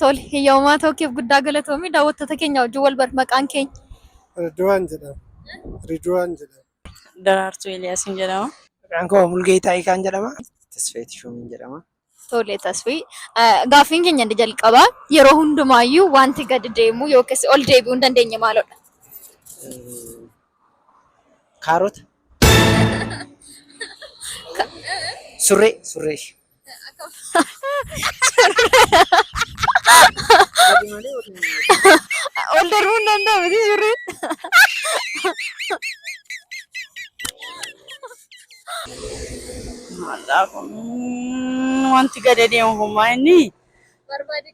Tole, hiyyaawumaa tookeef guddaa galatoomi. Daawwattoota keenya wajjin wal barra maqaan keenya. Riduwaan jedhama. Riduwaan jedhama. Daraartuu Eeliyaasiin jedhama. Maqaan koo Mulgeetaa Ikaan jedhama. Tasfayee Tishoomiin jedhama. Tole tasfii gaaffiin keenya inni jalqabaa yeroo hundumaayyuu wanti gadi deemu yookiis ol deebi'uu hin dandeenye maalodha? Kaarota. Surree. Surree. Ol darbuu hin danda'u miti surreen. Maalaa kun wanti gadi deemu homaa inni. Barbaade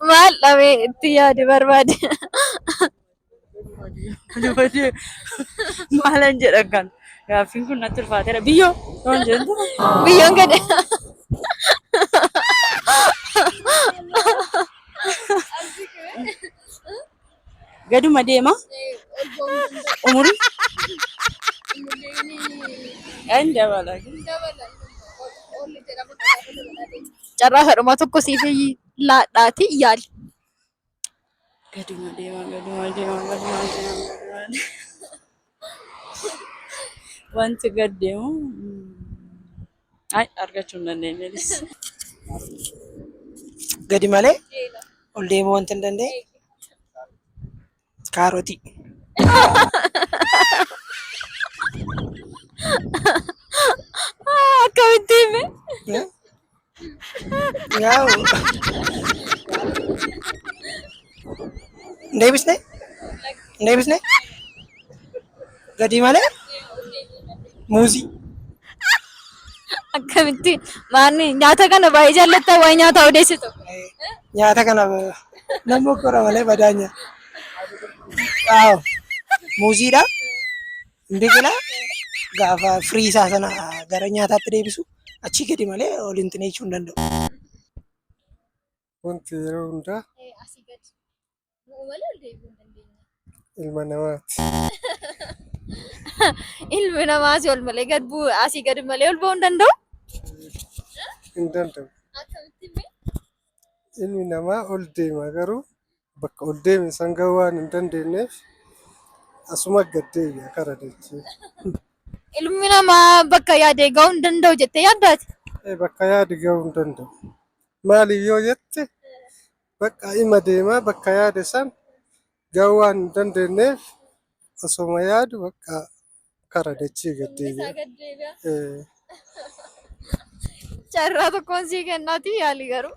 Maal dhabee itti yaade barbaade. Maalan jedhan kan gaaffiin kun natti ulfaateera. Biyyoo waan jedhu. Biyyoon gadi. Gaduma deema. Umuri. Kan dabala. Carraa kadhuma tokko siif laadhaati yaali. Gaduma deema, gaduma deema, gaduma deema, gaduma deema. Wanti gad deemu ay argachuu hin dandeenye jedhis. Gadi malee ol deemuu wanti hin dandeenye kaarotii. Akkamitti hime? Yaa'u. Hin deebisne? Hin deebisne? Gadii malee? Muuzii. Akkamitti maanni nyaata kana baay'ee jaallatta waa'ee nyaataa odeessitu. Nyaata kana namni kora malee badaa nyaata. Yaa'u. Muuziidha. Biqila gaafa firii isaa sana gara nyaataatti deebisu achii gadi malee ol hin xineechuu hin danda'u. Wanti yeroo hundaa Asii gadi. Bu'u malee ol deebi'uu hin dandeenye. ilma namaati. Ilmi namaa asii ol malee gad bu'u asii gadi malee ol ba'uu hin danda'u. Hin danda'u. Akkamitti mee? Ilmi namaa ol deema garuu bakka ol deeme san gahuu waan hin dandeenyeef asuma gad deebi'a kara dachee. Ilmi namaa bakka yaade gahuu hin danda'u jettee yaaddaati. Ee, bakka yaade gahuu hin danda'u. Maaliif yoo jette bakka ima deemaa bakka yaade san Gahuu waan hin dandeenyeef osoma yaadu bakka kara dachii gad deebi'a. Carraa tokkoon sii kennaati yaali garuu.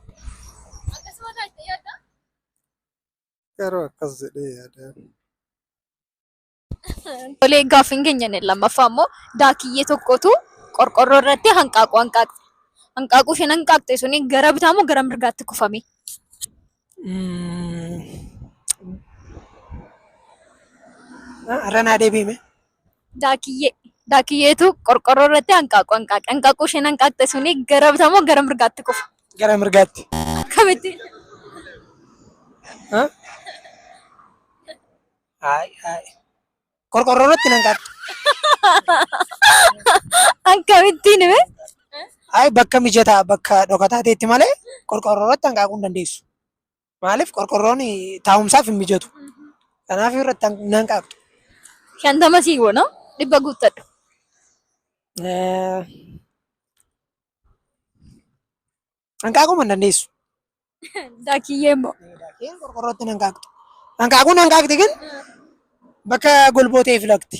Akkasuma taate yaadda? Garuu akkas jedhee yaada. Tolee, gaaffiin keenya inni lammaffaa immoo daakiyyee tokkotu qorqoorroo irratti hanqaaquu hanqaaqxe. Hanqaaquu isheen hanqaaqxe suni gara bitaa moo gara mirgaatti kufame? Irra naa deebi'i mee. Daakiyyee. Daakiyyeetu qorqoorroo irratti hanqaaquu hanqaaqe. Hanqaaquu isheen hanqaaqxe suni gara bitaa moo gara mirgaatti kufe? Gara mirgaatti. Akkamitti? Haay haay. Qorqorroo irratti nan kaata. Akkamittiin hime? Haay bakka mijataa bakka dhokataa ta'etti malee qorqorroo irratti hanqaaquu hin dandeessu. Maaliif qorqorroon taa'umsaaf hin mijatu. Kanaaf irratti han- hin hanqaaqxu. Shantama sii goona. Dhibba guuttadhu. Eh, Hanqaaquu hin dandeessu. Dakiyyee immoo. Daakeen qorqorrootti hin hanqaaqxu. Hanqaaquu hin hanqaaqxi gin bakka golboo ta'e filatti.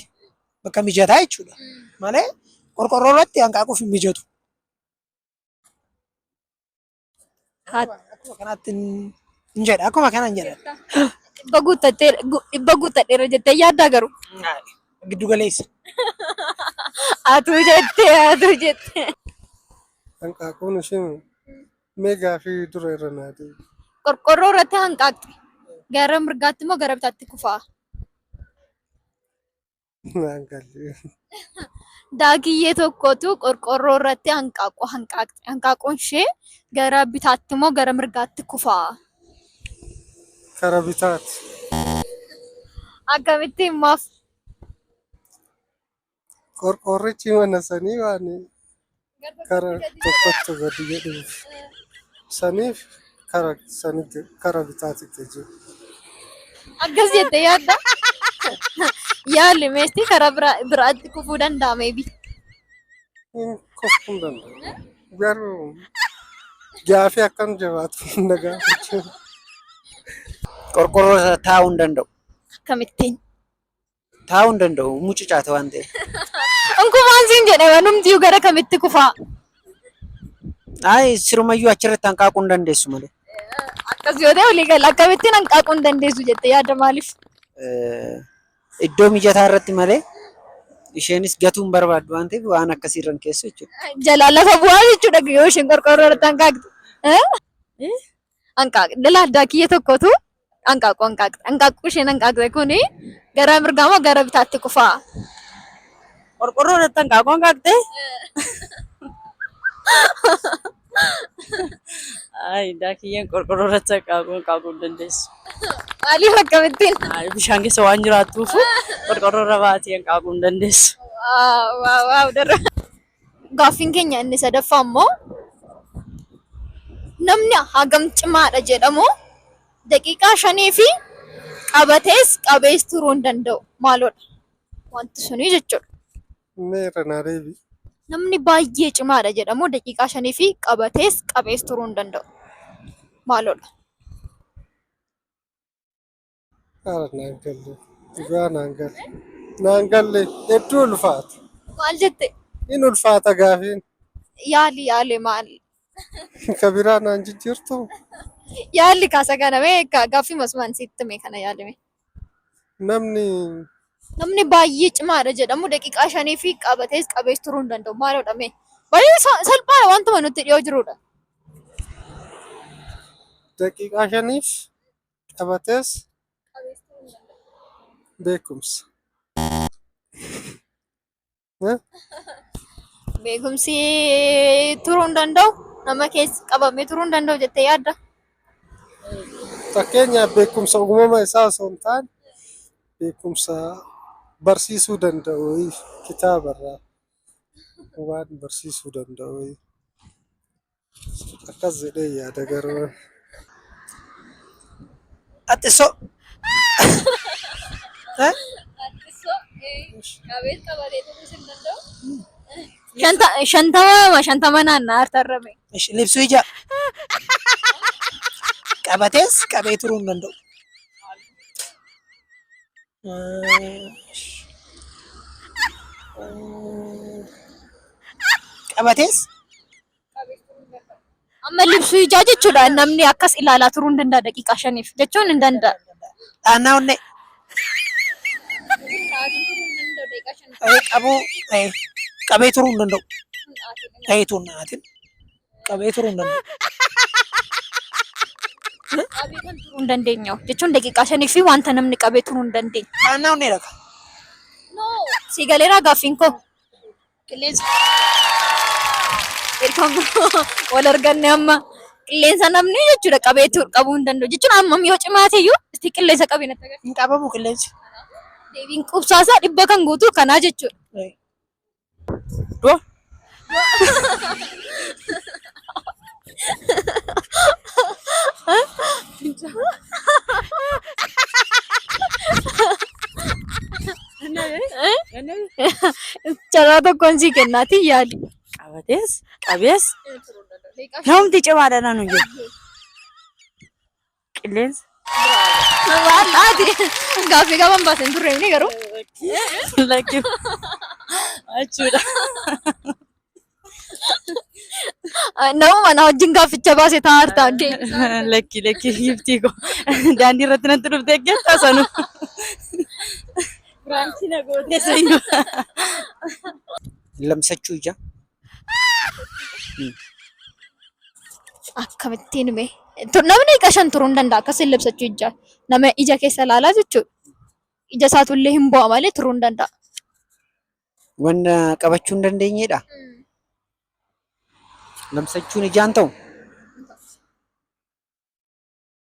Bakka mijataa jechuudha. Malee qorqorroo irratti hanqaaquuf hin mijatu. Hat- Akkuma kanaatti hin- hin jedha. Akkuma kana hin jedha. Dhibba guuttattee dhibba guuttadheera jettee yaaddaa garuu. Giddu galeessa. Atuu jettee atuu jettee. Hanqaaquun isheen mee gaafii dura irra naa deebi. Qorqorroo irratti hanqaaqxi. Gara mirgaatti moo gara bitaatti kufaa? Naan galle. Daakiyyee tokkotu qorqorroo irratti hanqaaquu hanqaaqxi. Hanqaaquun ishee gara bitaatti moo gara mirgaatti kufaa? Kara bitaati. Akkamittiin maaf? Qorqoorrichi mana sanii waan kara tokkotti gadi jedhuuf saniif kara sanitti kara bitaatitti jiru. Akkas jette yaadda. Yaalli meestii karaa bira biraatti kufuu danda'a meebi. Hin kufuu hin danda'u. Garuu gaafii akkam jabaatu hin dhagaafachuu. Qorqorroo irra taa'uu hin danda'u. Akkamittiin? Taa'uu hin danda'u. Mucucaate waan ta'eef. Unkumaan siin jedhe wanumtiyyuu gara kamitti kufaa. Ayi sirumayyuu achirratti hanqaaquu hin dandeessu malee. Akkas yoo ta'e walii gala akkamittiin hanqaaquu hin dandeessu jette yaada maaliif? Eh, Iddoo mijataa irratti malee isheenis gatuu hin barbaaddu waan ta'eef waan akkasii irra hin keessu jechuudha. Jalaa lafa bu'aa jechuudha yoo isheen qorqoorroo irratti hanqaaqxe. Eh? hanqaaquu dhala addaa kiyya tokkotu hanqaaquu hanqaaqxe. Hanqaaquu isheen hanqaaqxe kuni gara mirgaa moo gara bitaatti kufaa? Qorqorroo irratti hanqaaquu hanqaaqxe. Ay, addaa kiyyaan qorqorroo irratti hanqaaquu hanqaaquu hin dandeessu. Maaliif akkamittiin? Ay, bishaan keessa waan jiraattuuf qorqorroo irra baatee hanqaaquu hin dandeessu. Waaw waaw waaw darra. Gaaffiin keenya inni sadaffaa immoo namni hagam cimaadha jedhamu daqiiqaa shanii fi qabatees qabees turuu hin danda'u. Maaloodha? Wanti suni jechuudha. Mee irra naa deebi. Namni baay'ee cimaadha jedhamu daqiiqaa shanii fi qabatees qabees turuu hin danda'u. Maaloodha? Haala naan galle. Dhugaa naan galle. Naan galle. Hedduu ulfaata. Maal jette? In ulfaata gaafiin. Yaali yaale maal? Ka biraa naan jijjiirtu. Yaalli kaasa kana mee ga- gaaffii masumaan sitti mee kana yaalime. Namni Namni baay'ee cimaadha jedhamu daqiiqaa shanii fi qabatees qabees turuu hin danda'u. Maalidha mee? Baay'ee sa- salphaadha wantuma nutti dhiyoo jirudha. daqiiqaa shaniif Qabatees beekumsa. Beekumsi turuu hin danda'u nama keessa qabamee turuu hin danda'u jettee yaadda. Fakkeenyaaf beekumsa uumama isaa osoo hin taane beekumsa barsiisuu danda'u wayii kitaabarraa waan barsiisuu danda'u wayii. Akkas jedhee yaada garuu. Ati so. Eh? Shanta shantama shantama naannaa hartarrame. Ish, Libsuu ija. Qabatees qabee turuu hin danda'u. Ish. Qabatees Amma libsuu ijaa jechuudha. Namni akkas ilaalaa turuu hin danda'a daqiiqaa shaniif jechuun hin danda'a. Dhaannaa onnee. Ta'ee qabuu ta'ee qabee turuu hin danda'u. Ta'ee tuun naatin qabee turuu hin danda'u. Qabee kan turuu hin dandeenye jechuun daqiiqaa shanii fi wanta namni qabee turuu hin dandeenye. Dhaannaa onnee dhaqa. Sii galeeraa gaaffiin koo. Qilleensa wal arganne amma qilleensa namni jechuudha qabeetu qabuu hin danda'u jechuun hammam yoo cimaa ta'eyyuu itti qilleensa qabee natti agarsiisa. Hin qabamu qilleensi. Deebiin qubsaasaa dhibba kan guutu kanaa jechuudha. Du'a. Carraa tokkoon sii kennaatii yaadi. Qabatees qabees namti cimaadha nanu jedhu. qilleensa. Gaaffii gaban baasen turre inni garuu. Lakkii. Achuudha. Nama mana wajjin gaafficha baase taa'aa jirta. Lakkii lakkii giftii koo. Daandii irratti natti dhufte eeggattaa sanu. Biraanchii na gootee sanu. Lamsachuu ija. Akkamittiin mee namni ija shan turuu hin danda'a akkas illibsachuu ijaa nama ija keessa ilaalaa jechuudha. Ija isaatu illee hin bu'a malee turuu hin danda'a. Wanta qabachuu hin dandeenyedha. Lamsachuun ijaan ta'u.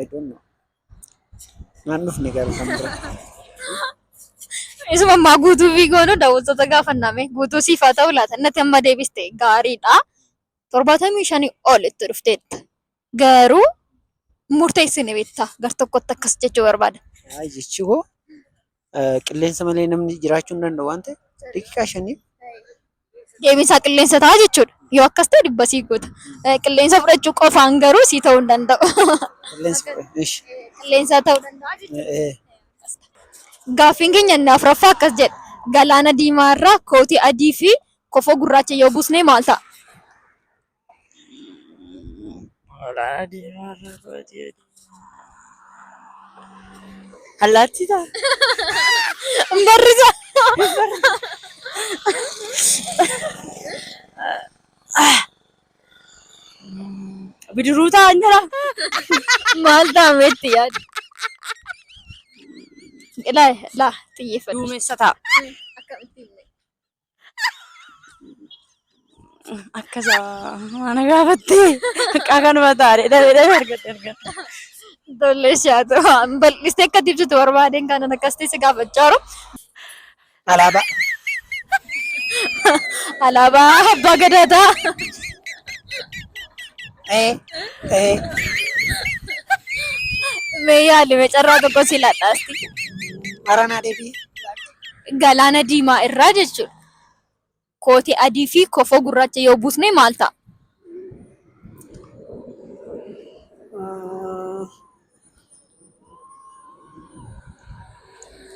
I don't know. Naan dhufne garuu kan bira. Isuma ammaa guutuu fi goonu daawwattoota gaafanname guutuu siif haa ta'u laata natti amma deebiste gaariidha. Torbaatamii shanii ol itti dhufteetta. Garuu murteessine beektaa gar tokkotti akkas jechuu barbaada. Ay jechi koo Qilleensa malee namni jiraachuu hin danda'u waan ta'eef daqiiqaa shaniif. Deebiin isaa qilleensa ta'a jechuudha. Yoo akkas ta'e dhibba sii goota. Eh, Qilleensa fudhachuu qofaan garuu sii ta'uu hin danda'u. Qilleensa ishi. Qilleensa ta'uu danda'a jechuudha. Eh, Gaaffiin keenya inni afuraffaa akkas jedha. Galaana diimaa irraa kootii adii fi kofoo gurraacha yoo buusne maal ta'a? Allaattii ta'a. Barrisa. Bidiruu ta'a hin jira. Maal taametti yaadu? Ilaa ilaa xiyyeeffadhu. Duumessa ta'a. Akkamitti himne? Akkasa mana gaafattee xiqqaa kanuma taa'e dhabee dhabee argatte argatte. Tole ishee haa ta'u. Waan Bal'istee akka itti ibsitu barbaadeen kanan akkas ta'e si gaafachaa jiru. Alaabaa. Alaabaa abbaa gadaa ta'a. Ee. Ee. Mee yaali mee carraa tokko si laadhaasti. Haranaa deebii. Galaana diimaa irraa jechuudha. Kootii adii fi kofoo gurraacha yoo buusne maal ta'a?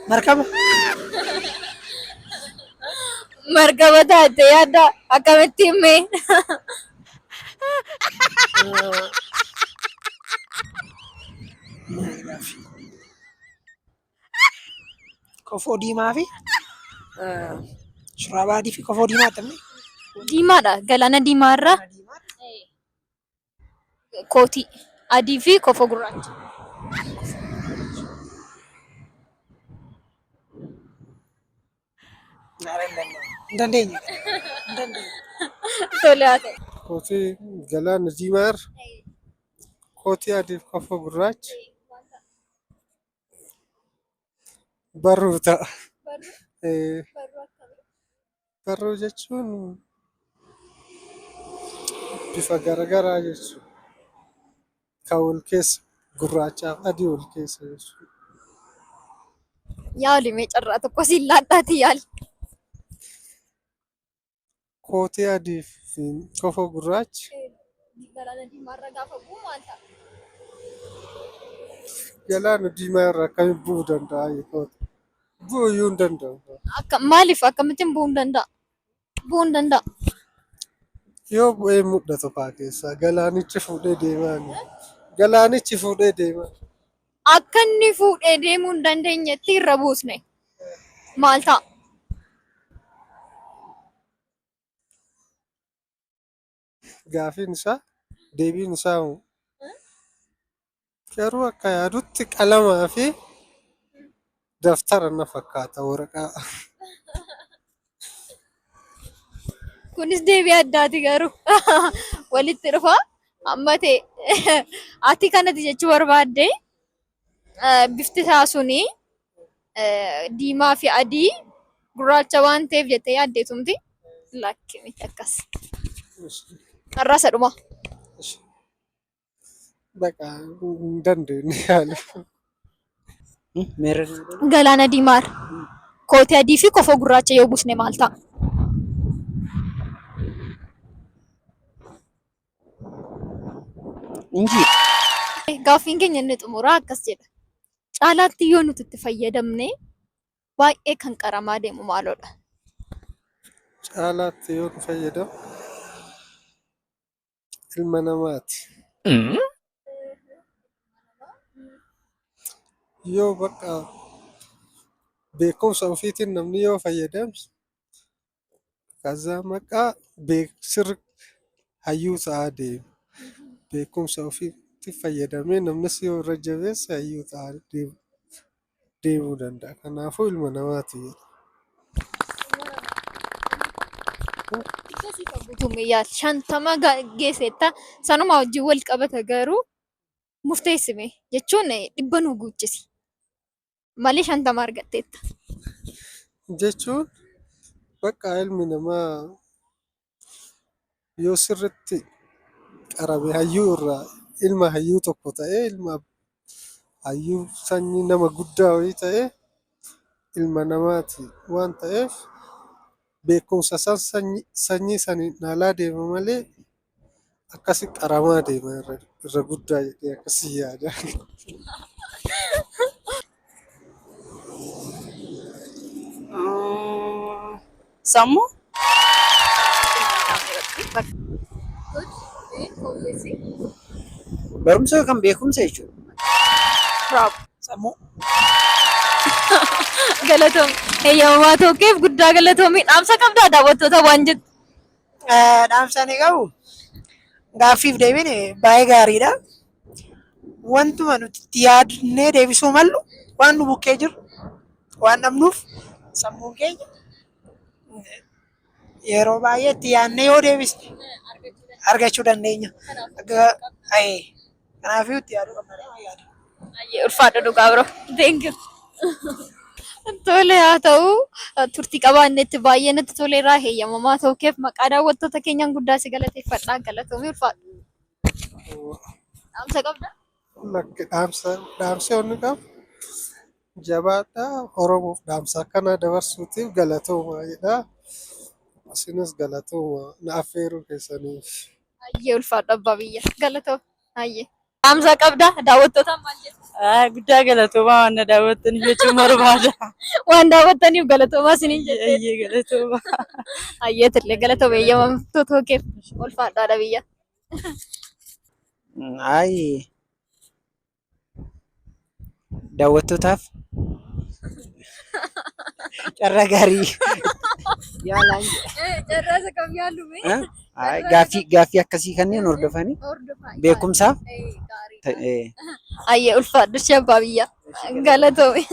Markaba. Markaba taatee yaadda akkamitti himme? Maal gaaffii? Kofoo diimaa fi shurraaba adii fi kofoo diimaa attamni. Diimaadha. Galaana diimaa irra kootii adii fi kofoo gurraacha. Hin dandeenye. Hin dandeenye. Tole haa ta'u. Kootii galaana diimaa irra kootii adii fi kofoo gurraacha. Barruu ta'a. Barruu Ee, barruu akkamii? Barruu jechuun bifa garagaraa jechuudha. Kan wal keessa gurraachaa fi adii wal keessa jechuudha. Yaali mee carraa tokko siin laadhaatii yaali. kootee adii fi kofa gurraacha. Galaana diimaa irra gaafa bu'u maal ta'a? Galaana diimaa irra akkamitti bu'uu danda'a jechuudha. Bu'uu iyyuu hin danda'u. Akka maaliif akkamittiin bu'uu hin danda'a? Bu'uu hin danda'a. Yoo bu'ee mul'atu fa'aa keessaa galaanichi fuudhee deemaa inni. Galaanichi fuudhee deemaa. Akka inni fuudhee deemuu hin dandeenyetti irra buusne. Maal ta'a? Gaafiin isaa deebiin isaa hoo? Garuu akka yaadutti qalamaa fi Daftara na fakkaata waraqaa. Kunis deebii addaati garuu walitti dhufa amma ta'e ati kanati jechuu barbaadde eh, bifti isaa suni eh, diimaa fi adii gurraacha waan ta'eef jettee yaaddeetumti lakki miti akkas. Har'aasa dhuma. Baqa hin dandeenye yaala. Meerri Galaana diimaa irra kootii adii fi kofoo gurraacha yoo buusne maal ta'a? injii Gaaffiin keenya inni xumuraa akkas jedha. Caalaatti yoo nuti itti fayyadamne baay'ee kan qaramaa deemu maalodha? Caalaatti yoo nu fayyadamu ilma namaati. Mm. Yoo bakka beekumsa ofiitiin namni yoo fayyadame kazaa maqaa beek sirri hayyuu ta'aa deema. Beekumsa ofiitti fayyadamee namnis yoo irra jabeesse hayyuu ta'aa deema. deemuu danda'a. Kanaafuu ilma namaati jedha. Isa siif guutume yaal shantama ga- geesseetta sanuma wajjin wal qabata garuu murteessime jechuun eh, dhibba nu guuchisi malee shantama argatteetta. Jechuun bakka ilmi namaa yoo sirriitti qarame hayyuu irraa ilma hayyuu tokko ta'ee ilma hayyuu sanyii nama guddaa wayii ta'ee ilma namaati waan ta'eef beekumsa isaa sanyii saniin dhaalaa deema malee Akkasi qaramaa deema irra irra guddaa jedhee akkasi yaada. Mm, Sammuu? Barumsa yookaan beekumsa jechuudha. Raab. Sammuu. Galatoomi. Eeyyamamaa tokkeef guddaa galatoomi. Dhaamsa qabdaa daawwattoota waan jettu. Dhaamsaan qabu gaaffiif deebiin baay'ee gaariidha. Wantuma nuti itti yaadnee deebisuu mallu waan nu bukkee jiru waan dhabnuuf sammuun keenya yeroo baay'ee itti yaadnee yoo deebisne argachuu dandeenya. Kanaafuu itti yaaduu qabna jedhee waan yaadu. Baay'ee ulfaadha dhugaa bro. Thank you. Tole haa ta'u turtii qabaannetti baay'ee natti toleera heeyyamamaa ta'uu keef maqaa daawwattoota keenyaan guddaa si galateeffadha galatoomii ulfaadhu. Dhaamsa qabda? Lakki dhaamsa dhaamsa inni qabu jabaadha Oromoof dhaamsa akkanaa dabarsuutiif galatooma jedha. Isinis galatooma na affeeruu keessaniif. Hayyee ulfaadha abbaa biyya. Galatoomi. Hayyee. Dhaamsa qabdaa? Daawwattootaan maal jettu? Ah, Guddaa galatoomaa waan na daawwattan jechuun barbaada. Waan daawwattaniif galatoomaa isiniin jedhe. Hayyee galatoomaa. Hayyee tillee galatoomi eeyyamamtuu tookeef ulfaadhaadha biyya. Ayi daawwattootaaf carraa gaarii yaalaan Carraasa kam yaallu mee? Eh? Ay, gaaffii gaaffii akkasii kanneen hordofanii Hordofaa. beekumsaaf Eh, gaarii. ta'e. Ayyee ulfaadhu shabbaa biyya. Galatoomi.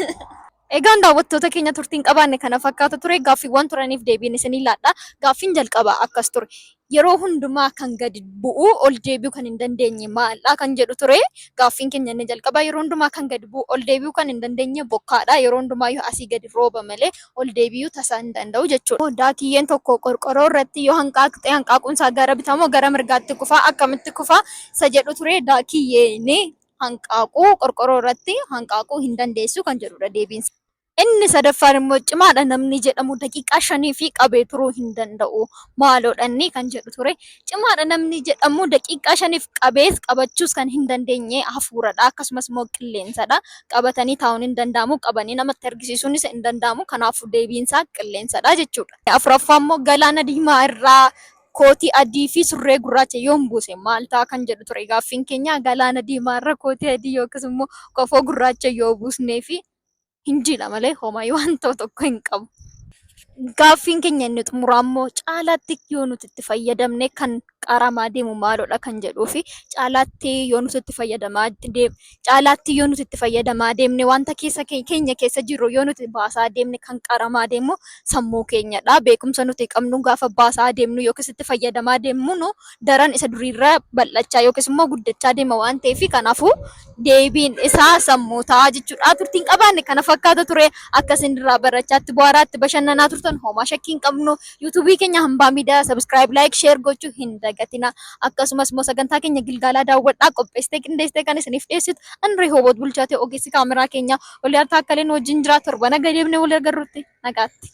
Egaan daawwattoota keenya turtiin qabaanne kana fakkaata ture. Gaaffiiwwan turaniif deebiin isinii laadha. Gaaffiin jalqabaa akkas ture. Yeroo hundumaa kan gadi bu'u ol deebi'uu kan hin dandeenye maaldha kan jedhu ture. Gaaffiin keenya inni jalqabaa yeroo hundumaa kan gadi bu'u ol deebi'uu kan hin dandeenye bokkaadha. Yeroo hundumaa yoo asii gadi rooba malee ol deebi'uu tasaa hin danda'u jechuudha. Daakiyyeen tokko qorqoroo irratti yoo hanqaaqxe hanqaaquun isaa gara bitaa moo gara mirgaatti kufa? Akkamitti kufa? Isa jedhu ture daakiyyeen hanqaaquu qorqoroo irratti hanqaaquu hin dandeessu kan jedhudha deebiin isaa. Inni sadaffaan immoo cimaadha namni jedhamu daqiiqaa shanii fi qabee turuu hin danda'u maaloodha inni kan jedhu ture. Cimaadha namni jedhamu daqiiqaa shaniif qabees qabachuus kan hin dandeenye hafuuradha akkasumas immoo qilleensadha. Qabatanii taa'uun hin danda'amu qabanii namatti argisiisuunis hin danda'amu kanaafuu deebiin isaa qilleensadha jechuudha. Afuraffaa immoo galaana diimaa irraa Kootii adii fi surree gurraacha yoon buuse maal ta'a kan jedhu ture gaaffiin keenya. Galaana diimaa irra kootii adii yookiis immoo kofoo gurraacha yoo buusnee fi hin jiidha malee homaa waan ta'u tokko hin qabu. Gaaffiin keenya inni xumuraa immoo caalaatti yoo nuti itti fayyadamne kan qaramaa deemu maalodha kan jedhuu fi caalaatti yoo nuti itti fayyadamaa deemne. caalaatti yoo nuti itti fayyadamaa deemne wanta keessa keenya keessa jirru yoo nuti baasaa deemne kan qaramaa deemu sammuu keenyadha. Beekumsa nuti qabnu gaafa baasaa deemnu yookiis itti fayyadamaa deemnu daran isa duriirra bal'achaa yookiis immoo guddachaa deema waan ta'eef kanaafuu deebiin isaa sammuu ta'a jechuudha. Turtiin qabaanne kana fakkaata ture. Akka isin irraa barachaatti bu'aaraatti bashannanaa turtan homaa shakkii hin qabnu. Yuutuubii keenya Hambaa Miidiyaa Sabiskiraayib, Laayik, Sheer gochuu hin dagatina. Akkasumas immoo sagantaa keenya Gilgaalaa daawwadhaa qopheessitee qindeessitee kan isiniif dhiyeessitu ani Rehooboot Bulchaatee ogeessi kaameraa keenya Oliyaar Taakkaleen wajjin jira. Torba naga deemnee wal agarrutti nagaatti.